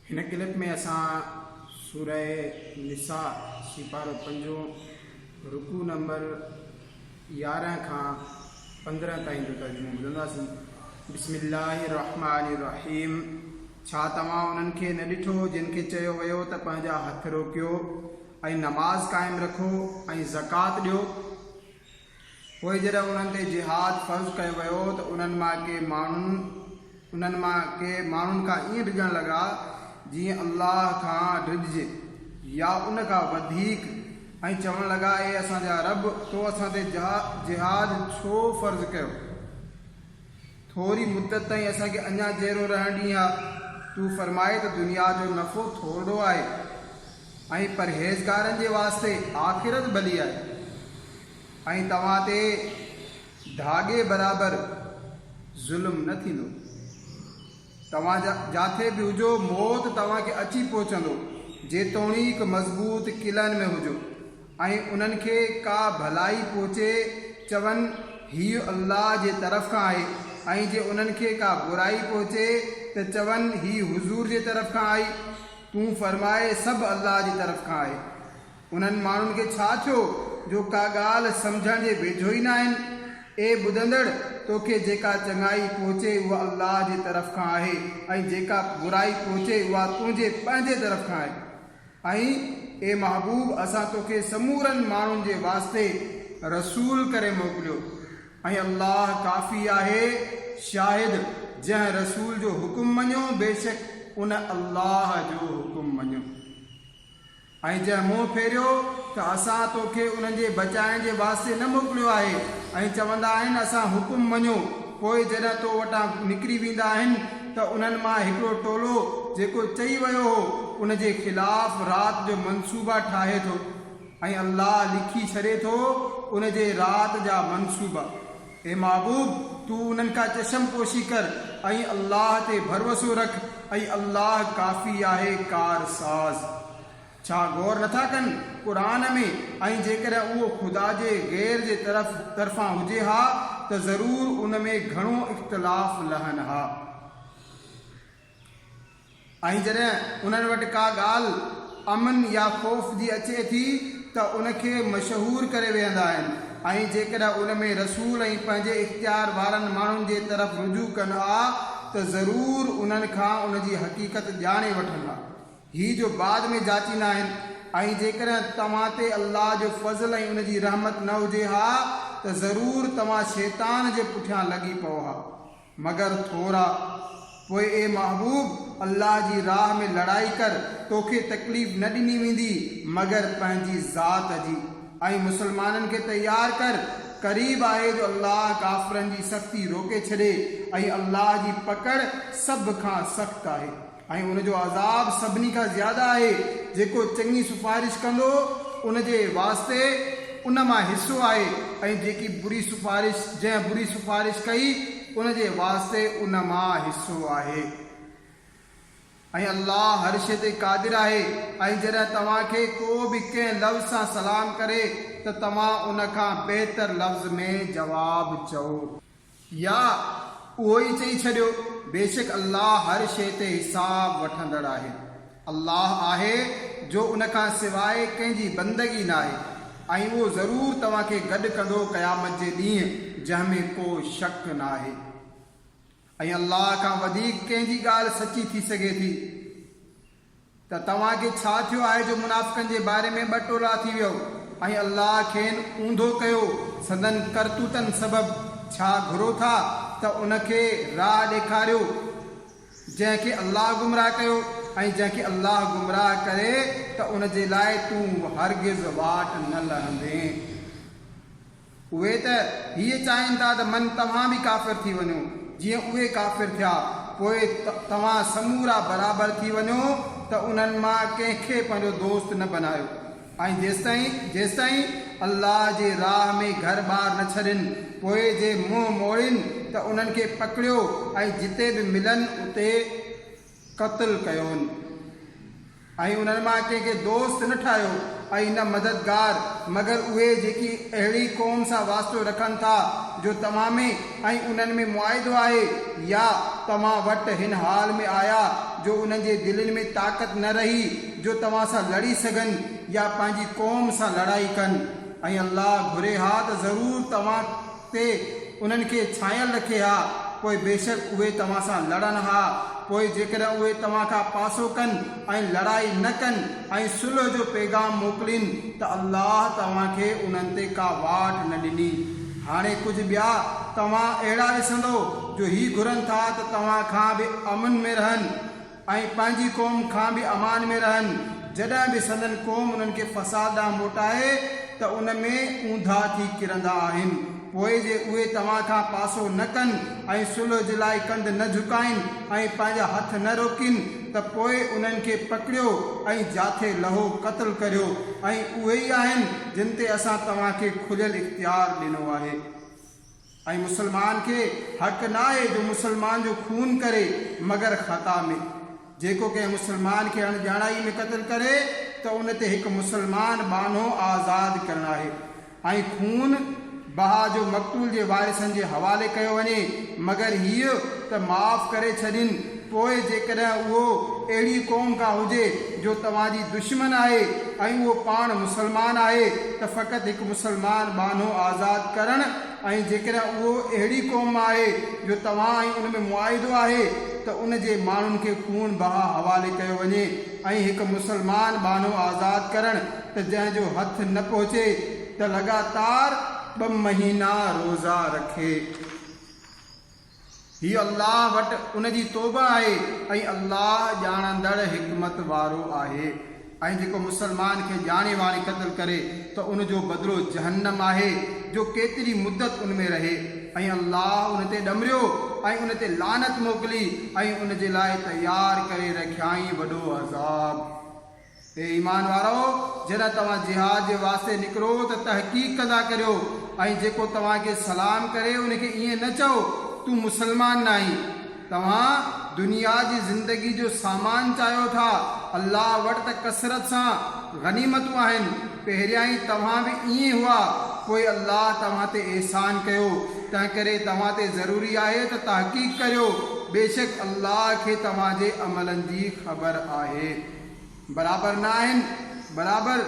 هن ڪلپ ۾ اسان سوره نساء سيپارو پنجون رڪوع نمبر يارهن کان پندرهن تائين جو ترجمو ٻڌنداسين بسم الله الرحمن الرحيم ڇا توهان انهن کي نه ڏٺو جن کي چيو ويو ته پنهنجا هٿ روڪيو ۽ نماز قائم رکو ۽ زڪات ڏيو پوء جڏهن انهن تي جهاد فرض ڪيو ويو ته انهن مان ڪي ماڻهن انهن مان ڪي ماڻهن کان ائين ڊڄڻ لڳا جيئن الله کان ڊڄجي يا ان کان وڌيڪ ۽ چوڻ لڳا اي اسان جا رب تو اسان تي جهاد ڇو فرض ڪيو؟ ٿوري مدت تائين اسان کي اڃا جيئرو رهڻ ڏينهن ها تون فرماء ته دنيا جو نفعو ٿورڙو آهي. ۽ پرهيزگارن جي واسطي آخرت ڀلي آهي ۽ توهان تي ڌاڳي برابر ظلم نه ٿيندو. توهان جاٿي به هجو موت توهان کي اچي پهچندو جيتوڻيڪ مضبوط قلعن ۾ هجو ۽ انهن کي ڪا ڀلائي پهچي چون هيء الله جي طرف کان آهي ۽ جي انهن کي ڪا برائي پهچي ته چون هيء حضور جي طرف کان آئي. تون فرماء سڀ الله جي طرف کان آهي. انهن ماڻهن کي ڇا ٿيو جو ڪا ڳالهه سمجهڻ جي ويجهو ئي نه آهن. اي ٻڌندڙ! توکي جيڪا چڱائي پهچي اها الله جي طرف کان آهي ۽ جيڪا برائي پهچي اها تنهنجي پنهنجي طرف کان آهي. ۽ اي محبوب! اسان توکي سمورن ماڻهن جي واسطي رسول ڪري موڪليو. ۽ الله ڪافي آهي، شاهد، جنهن رسول جو حڪم مڃيو بيشڪ ان الله جو حڪم مڃيو ۽ جنهن منهن ڦيريو ته اسان توکي انهن جي بچائڻ جي واسطي نه موڪليو آهي ۽ چوندا آهن اسان حڪم مڃيو پوء جڏهن تو وٽان نڪري ويندا آهن ته انهن مان هڪڙو ٽولو جيڪو چئي ويو هو ان جي خلاف رات جو منصوبا ٺاهي ٿو. ۽ الله لکي ڇڏي ٿو ان جي رات جا منصوبا. اي محبوب! تون انهن کان چشم پوشي ڪر ۽ الله تي ڀروسو رک ۽ الله ڪافي آهي ڪارساز. ڇا غور نٿا ڪن قرآن ۾ ۽ جيڪڏهن اهو خدا جي غير جي طرف طرفان هجي ها ته ضرور ان ۾ گهڻو اختلاف لهن ها. ۽ جڏهن انهن وٽ ڪا ڳالهه امن يا خوف جي اچي ٿي ته ان کي مشهور ڪري ويهندا آهن ۽ جيڪڏهن ان ۾ رسول ۽ پنهنجي اختيار وارن ماڻهن جي طرف رجوع ڪن ها ته ضرور انهن کان ان جي حقيقت ڄاڻي وٺن ها هي جو بعد ۾ جاچيندا آهن ۽ جيڪڏهن توهان تي الله جو فضل ۽ ان جي رحمت نه هجي ها ته ضرور توهان شيطان جي پٺيان لڳي پئو ها. مگر ٿورا، پوء اي محبوب! الله جي راهه ۾ لڙائي ڪر، توکي تڪليف نه ڏني ويندي مگر پنهنجي ذات جي، ۽ مسلمانن کي تيار ڪر، قريب آهي جو الله ڪافرن جي سختي روڪي ڇڏي، ۽ الله جي پڪڙ سڀ کان سخت آهي. ۽ ان جو عذاب سڀني کان زياده آهي، جيڪو چڱي سفارش ڪندو ان جي واسطي ان مان حصو آهي ۽ جيڪي بري سفارش جنهن بري سفارش ڪئي ان جي واسطي ان مان حصو آهي ۽ الله هر شيء تي قادر آهي ۽ جڏهن توهان کي ڪو به ڪنهن لفظ سان سلام ڪري ته توهان ان کان بهتر لفظ ۾ جواب چئو. يا اهو ئي چئي ڇڏيو، بيشڪ الله هر شيء تي حساب وٺندڙ آهي. الله آهي جو ان کان سواء ڪنهن جي بندگي ناهي ۽ اهو ضرور توهان کي گڏ ڪندو قيامت جي ڏينهن جنهن ۾ ڪو شڪ ناهي. ۽ الله کان وڌيڪ ڪنهن جي ڳالهه سچي ٿي سگهي ٿي؟ ته توهان کي ڇا ٿيو آهي جو منافقن جي باري ۾ ٻه ٽولا ٿي ويئو ۽ الله کين اونڌو ڪيو سندن ڪرتوتن سبب، ڇا گهرو ٿا ته ان کي راهه ڏيکاريو جنهن کي الله گمراهه ڪيو ۽ جنهن کي الله گمراهه ڪري ته ان جي لاء تون هرگز واٽ نه لهندين. اهي ته هيء چاهين ٿا ته من توهان به ڪافر ٿي وڃو، جيئن اهي ڪافر ٿيا، پوء توهان سمورا برابر ٿي وڃو ته انهن مان ڪنهن کي پنهنجو دوست نه بنايو ۽ جيستائين جيستائين الله جي راهه ۾ گهر ٻار نه ڇڏين، پوء جي منهن موڙين ته انهن کي پڪڙيو ۽ جتي به ملن اتي. قتل ڪيون ۽ انهن مان ڪنهن کي دوست نه ٺاهيو ۽ نه مددگار مگر اهي جيڪي اهڙي قوم سان واسطو رکن ٿا جو توهان ۾ ۽ انهن ۾ معاهدو آهي يا توهان وٽ هن حال ۾ آيا جو انهن جي دلين ۾ طاقت نه رهي جو توهان سان لڙي سگهن يا پنهنجي قوم سان لڙائي ڪن ۽ الله گهري ها ته ضرور توهان تي انهن کي ڇانيل رکي ها، پوء بيشڪ اهي توهان سان لڙن ها، پوء جيڪڏهن اهي توهان کان پاسو ڪن ۽ لڙائي نه ڪن ۽ صلح جو پيغام موڪلين ته الله توهان کي انهن تي ڪا واٽ نه ڏني. هاڻي ڪجهه ٻيا توهان اهڙا ڏسندؤ جو هي گهرن ٿا ته توهان کان به امن ۾ رهن. ۽ پنهنجي قوم کان به امان ۾ رهن، جڏهن به سندن قوم انهن کي فساد ڏانهن موٽائي ته ان ۾ اونڌا ٿي ڪرندا آهن، پوء جي اهي توهان کان پاسو نه ڪن ۽ صلح جي لاء ڪنڌ نه جهڪائين ۽ پنهنجا هٿ نه روڪين ته پوء انهن کي پڪڙيو ۽ جاٿي لهو، قتل ڪريو، ۽ اهي ئي آهن جن تي اسان توهان کي کليل اختيار ڏنو آهي. ۽ مسلمان کي حق نه آهي جو مسلمان جو خون ڪري مگر خطا ۾، جيڪو ڪنهن مسلمان کي اڻ ڄاڻائي ۾ قتل ڪري ته ان تي هڪ مسلمان ٻانهو آزاد ڪرڻ آهي ۽ خون بها جو مقتول جي وارثن جي حوالي ڪيو وڃي مگر هيء ته معاف ڪري ڇڏين پوء جيڪڏهن اهو اهڙي قوم ڪا هجي جو توهان جي دشمن آهي ۽ اهو پاڻ مسلمان آهي ته فقط هڪ مسلمان ٻانهو آزاد ڪرڻ ۽ جيڪڏهن اهو اهڙي قوم مان آهي جو توهان ۽ ان ۾ معاهدو آهي ته ان جي ماڻهن کي خون بها حوالي ڪيو وڃي ۽ هڪ مسلمان ٻانهو آزاد ڪرڻ ته جنهن جو هٿ نه پهچي ته لڳاتار ٻه مهينا روزا رکي. هي الله وٽ ان جي توبه آهي ۽ الله ڄاڻندڙ حڪمت وارو آهي ۽ جيڪو مسلمان کي ڄاڻي واڻي قتل ڪري ته ان جو بدلو جهنم آهي جو ڪيتري مدت ان ۾ رهي ۽ الله ان تي ڏمريو ۽ ان تي لعنت موڪلي ۽ ان جي لاء تيار ڪري رکيائين وڏو عذاب. اي ايمان وارؤ! جڏهن توهان جهاد جي واسطي نڪرو ته تحقيق ڪندا ڪريو ۽ جيڪو توهان کي سلام ڪري ان کي ائين نه چئو، تون مسلمان ناهين. توهان دنيا جي زندگي جو سامان چاهيو ٿا، الله وٽ ته ڪثرت سان غنيمتون آهن. پهريائين توهان به ائين هئا، پوء الله توهان تي احسان ڪيو، تنهنڪري توهان تي ضروري آهي ته تحقيق ڪريو، بيشڪ الله کي توهان جي عملن جي خبر آهي. برابر نه آهن، برابر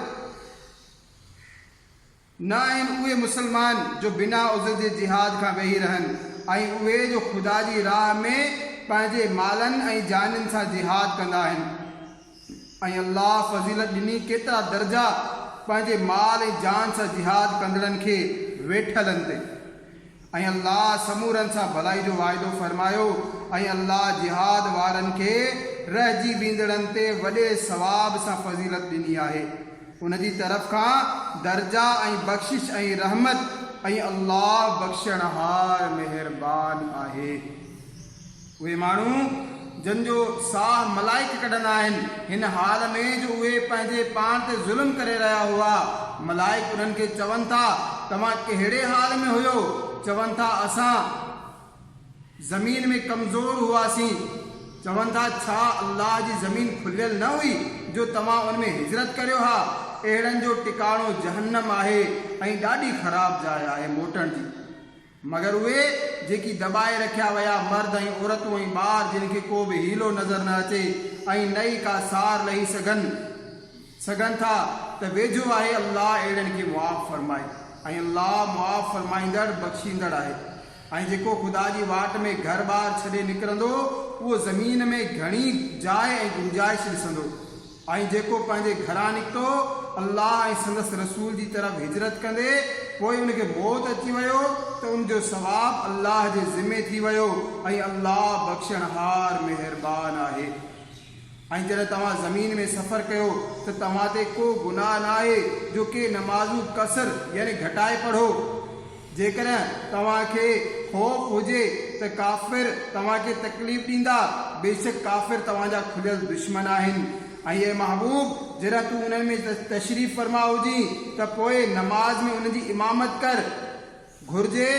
نه آهن اهي مسلمان جو بنا عذر جي جهاد کان ويهي رهن ۽ اهي جو خدا جي راهه ۾ پنهنجي مالن ۽ جانين سان جهاد ڪندا آهن ۽ الله فضيلت ڏني ڪيترا درجا پنهنجي مال ۽ جان سان جهاد ڪندڙن کي ويٺلن تي ۽ الله سمورن سان ڀلائي جو واعدو فرمايو ۽ الله جهاد وارن کي رهجي ويندڙن تي وڏي ثواب سان فضيلت ڏني آهي ان جي طرف کان درجا ۽ بخشش ۽ رحمت ۽ الله بخشڻهار مهربان آهي. اهي ماڻهو جن جو ساهه ملائڪ ڪڍندا آهن، هن حال ۾ جو اهي پنهنجي پاڻ تي ظلم ڪري رهيا هئا، ملائڪ انهن کي چون ٿا، توهان ڪهڙي حال ۾ هيو؟ چون ٿا، اسان زمين ۾ ڪمزور هئاسين. چون ٿا، ڇا الله جي زمين کليل نه هئي جو توهان ان ۾ هجرت ڪريو ها؟ اهڙن جو ٽڪاڻو جهنم آهي ۽ ڏاڍي خراب جاء آهي موٽڻ جي. مگر اهي، جيڪي دٻائي رکيا ويا، مرد ۽ عورتون ۽ ٻار، جن کي ڪو به حيلو نظر نه اچي ۽ نه ئي ڪا سار لهي سگهن، سگهن ٿا، ته ويجهو آهي الله اهڙن کي معاف فرمائي ۽ الله معاف فرمائيندڙ، بخشيندڙ آهي. ۽ جيڪو خدا جي واٽ ۾ گهر ٻار ڇڏي نڪرندو، اهو زمين ۾ گهڻي جاء ۽ گنجائش ڏسندو. ۽ جيڪو پنهنجي گهران نڪتو الله ۽ سندس رسول جي طرف هجرت ڪندي پوء ان کي موت اچي ويو ته ان جو ثواب الله جي ذمي ٿي ويو ۽ الله بخشڻهار مهربان آهي ۽ جڏهن توهان زمين ۾ سفر ڪيو ته توهان تي ڪو گناهه ناهي جو ڪي نمازون قصر يعني گهٽائي پڙهو. جيڪڏهن توهان کي خوف هجي ته ڪافر توهان کي تڪليف ڏيندا، بيشڪ ڪافر توهان جا کليل دشمن آهن. ۽ اي محبوب! جڏهن تون انهن ۾ تشريف فرما هجين ته پوء نماز ۾ انهن جي امامت ڪر. گهرجي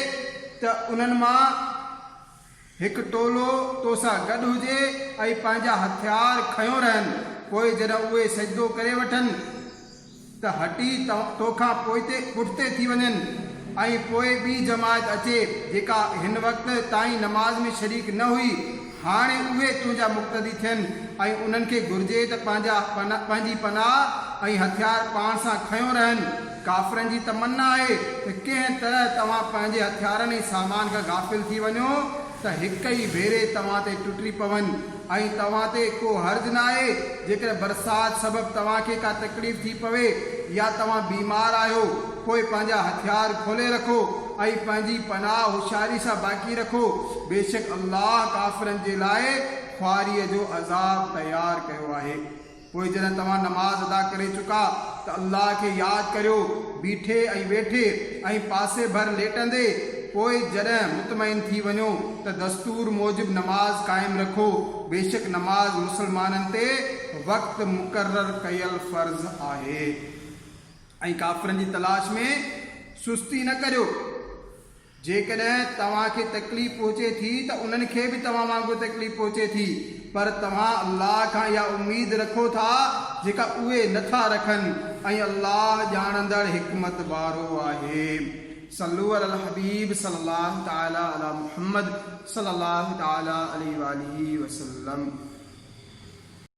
ته انهن مان هڪ ٽولو تو سان گڏ هجي ۽ پنهنجا هٿيار کنيو رهن، پوء جڏهن اهي سجدو ڪري وٺن ته هٽي تو کان پوئتي پٺتي ٿي وڃن ۽ پوء ٻي جماعت اچي جيڪا هن وقت تائين نماز ۾ شريڪ نه هئي، هاڻي اهي تنهنجا مقتدي ٿين ۽ انهن کي گهرجي ته پنهنجا پنهنجي پناهه ۽ هٿيار پاڻ سان کنيو رهن. ڪافرن جي تمنا آهي ته ڪنهن طرح توهان پنهنجي هٿيارن ۽ سامان کان غافل ٿي وڃو ته هڪ ئي ڀيري توهان تي ٽٽي پون ۽ توهان تي ڪو حرج ناهي جيڪڏهن برسات سبب توهان کي ڪا تڪليف ٿي پوي يا توهان بيمار آهيو پوء پنهنجا هٿيار کولي رکو ۽ پنهنجي پناهه هوشياري سان باقي رکو بيشڪ الله ڪافرن جي لاء خواريء جو عذاب تيار ڪيو آهي. پوء جڏهن توهان نماز ادا ڪري چڪا ته الله کي ياد ڪريو، بيٺي ۽ ويٺي ۽ پاسي ڀر ليٽندي، پوء جڏهن مطمئن ٿي وڃو ته دستور موجب نماز قائم رکو، بيشڪ نماز مسلمانن تي وقت مقرر ڪيل فرض آهي ۽ ڪافرن جي تلاش ۾ سستي نه ڪريو. جيڪڏهن توهان کي تڪليف پهچي ٿي ته انهن کي به توهان وانگر تڪليف پهچي ٿي، پر توهان الله کان اها اميد رکو ٿا جيڪا اهي نه ٿا رکن ۽ الله ڄاڻندڙ حڪمت وارو آهي. صلو علی الحبيب صلّي الله تعالٰي عليٰ محمّد صلّي الله تعالٰي عليه واٰله وسلّم.